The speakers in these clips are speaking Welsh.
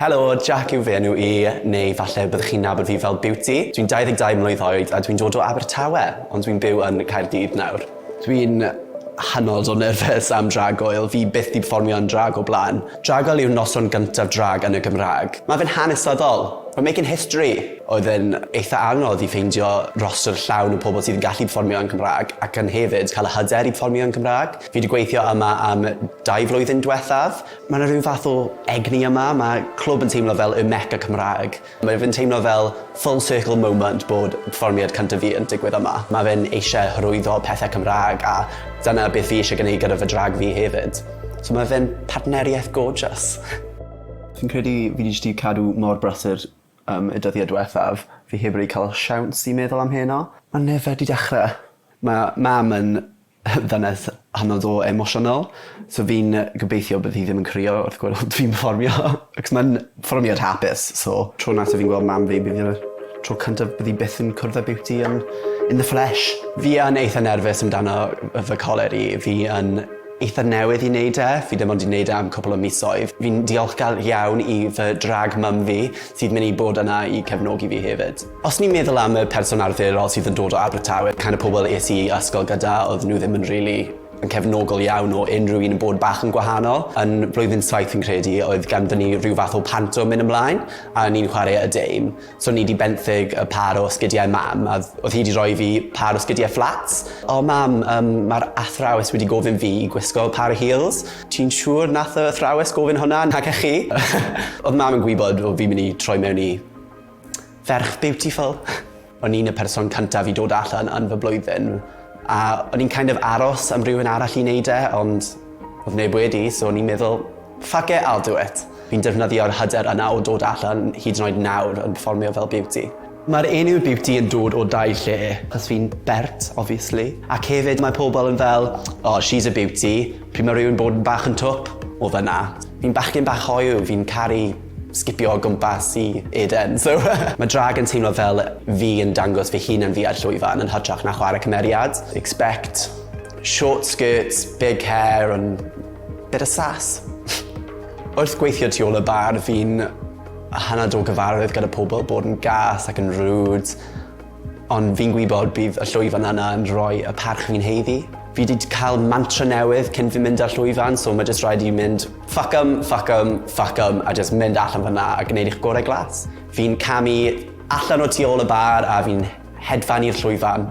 Helo, Jack yw fy enw i, neu falle byddwch chi'n nabod fi fel Beauty. Dwi'n 22 mlwydd oed a dwi'n dod o Abertawe, ond dwi'n byw yn Caerdydd nawr. Dwi'n hynod o nerfus am Drag Goel, fi byth 'di perfformio yn drag o blaen. Drag Goel yw'r noson gyntaf drag yn y Gymraeg. Mae fe'n hanesyddol! We're making history! Oedd e'n eitha anodd i ffeindio rostr llawn o pobl sydd yn gallu perfformio yn Cymraeg ac yn hefyd cael y hyder i perfformio yn Cymraeg. Fi 'di gweithio yma am dau flwyddyn dwethaf, Mae 'na rhyw fath o egni yma, ma' clwb yn teimlo fel y Mecca Cymraeg. Mae fe'n teimlo fel full circle moment bod perfformiad cynta fi yn digwydd yma. Ma' fe'n eisie hyrwyddo pethe Cymra'g a dyna beth fi eisie gneud gyda fy drag fi hefyd. So ma' fe'n partneriaeth gorgeous. Fi'n credu fi jyst 'di cadw mor brysur yym y dyddie dwethaf, fi heb rili ca'l siawns i meddwl am heno. Ma'n yfed i dechre. Ma' mam yn Ddynes hynod o emosiynol. So fi'n gobeithio bydd hi ddim yn crio wrth gweld fi'n perfformio acos ma'n perfformiad hapus so. Tro nesa fi'n gweld mam fi bydd yw'r tro cyntaf bydd 'i byth yn cwrdd â Beauty yn in the flesh. Fi yn eitha nerfus amdano yy fy coler i. Fi yn eitha newydd i neud e. Fi dim ond 'di neud e am cwpwl o misoedd. Fi'n diolchgar iawn i fy drag mum fi sydd myn' i bod yna i cefnogi fi hefyd. Os ni'n meddwl am y person arferol sydd yn dod o Abertawe, kind of pobl es i ysgol gyda, oedden nhw ddim yn rili yn cefnogol iawn o unrhyw un yn bod bach yn gwahanol. Yn blwyddyn saith fi'n credu oedd ganddon ni rhyw fath o panto mynd ymlaen a o'n i'n chwarae y dame. So o'n i 'di benthyg y pâr o sgidiau mam a o'dd o'dd hi 'di rhoi fi pâr o sgidiau fflats. O mam, yym ma'r athrawes wedi gofyn fi i gwisgo pâr o heels. Ti'n siŵr nath y athrawes gofyn hwnna nage chi? O'dd mam yn gwybod o' fi'n myn' i troi mewn i Ferch beautiful. O'n i'n y person cyntaf i dod allan yn fy blwyddyn a o'n i'n kind of aros am rywun arall i neud e ond odd neb wedi so o'n i'n meddwl fuck it I'll do it. Fi'n defnyddio'r hyder yna o dod allan hyd yn oed nawr yn perfformio fel Beauty. Mae'r enw Beauty yn dod o dau lle, achos fi'n bert obviously ac hefyd mae pobl yn fel oh she's a beauty pryd mae rywun bod yn bach yn twp, o fan'na. Fi'n bachgen bach hoyw, fi'n caru sgipio o gwmpas i Eden, so Ma' drag yn teimlo fel fi yn dangos fy hun yn fi ar llwyfan yn hytrach na chware cymeriad. Expect short skirts, big hair and bit of sass. Wrth gweithio tu ôl y bar fi'n hynod o gyfarwydd gyda pobl, bod yn gas ac yn rude. Ond fi'n gwybod bydd y llwyfan yna yn rhoi y parch fi'n haeddu. Fi 'di cael mantra newydd cyn fi mynd ar llwyfan, so mae jyst rhaid i fi mynd fuck 'em, fuck 'em, fuck 'em, a jyst mynd allan fan'na a gwneud eich gorau glas. Fi'n camu allan o tu ôl y bar a fi'n hedfan i'r llwyfan.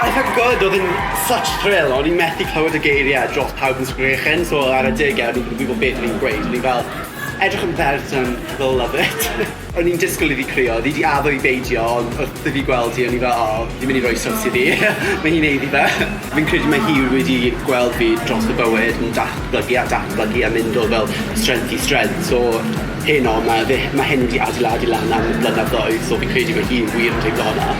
I felt good, oedd yn such a thrill, o'n i'n methu clywed y geiriau dros pawb yn sgrechen, so ar adeg e, o'n i'n gwybod beth o'n i'n gweud, o'n i fel, edrych yn ferch yn they'll love it. o'n i'n disgwyl iddi crio, oedd hi wedi addo i beidio, ond wrth iddi gweld hi, o'n i fel, o, fi'n mynd i roi sws iddi, mae hi'n haeddu fe. Fi'n credu mae hi wedi gweld fi dros y bywyd yn datblygu a datblygu a mynd o fel strength i strength so heno ma' fe ma' hyn wedi adeiladu lan am blynyddoedd so fi'n credu bod hi wir yn teimlo hwnna.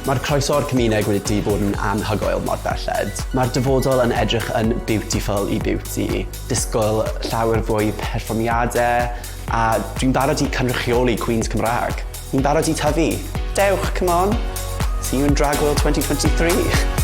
Mae'r croeso o'r cymuneg wedi bod yn anhygoel mor belled. Mae'r dyfodol yn edrych yn beautiful i beauty. Disgwyl llawer fwy perfformiade a dwi'n barod i cynrychioli Queens Cymraeg. Ni'n barod i tyfu! Dewch, come on! See you in Drag World 2023!